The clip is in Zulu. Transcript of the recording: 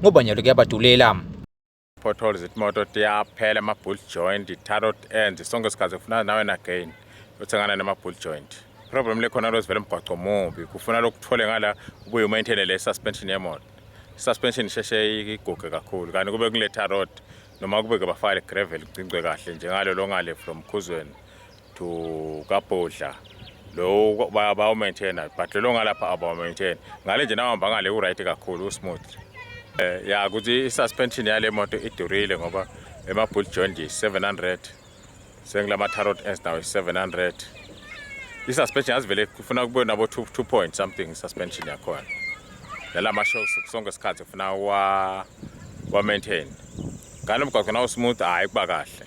ngoba nyalo kuyabadulela potholes imoto tiyaphela ama-bull joint i-tarot end sonke sikhathi kufuna nawe nagain uthengana nama-bull joint problem lekhona lo sivele mgwaco mubi kufuna lokuthole ngala ubuye umaintaine le suspension yemoto suspension isheshe iguge kakhulu kanti kube kule tarot noma kube ke bafale gravel igcingcwe kahle njengalo longale from khuzweni to kabhodla lowo bayawumaintaina but lelo ngalapha abawumaintaini ngale nje nawuhamba ngale u-right kakhulu usmooth um eh, ya ukuthi i-suspension yale moto idurile ngoba ema-bull joint yi-700 sengila ma-tarot ens nawo yi-700 i-suspension yazivele kufuna kube nabo two, two point something i-suspension yakhona nala ma-shows sonke isikhathi kufuna wa-maintain wa ngalo mgwaqo nawusmooth hhayi kuba kahle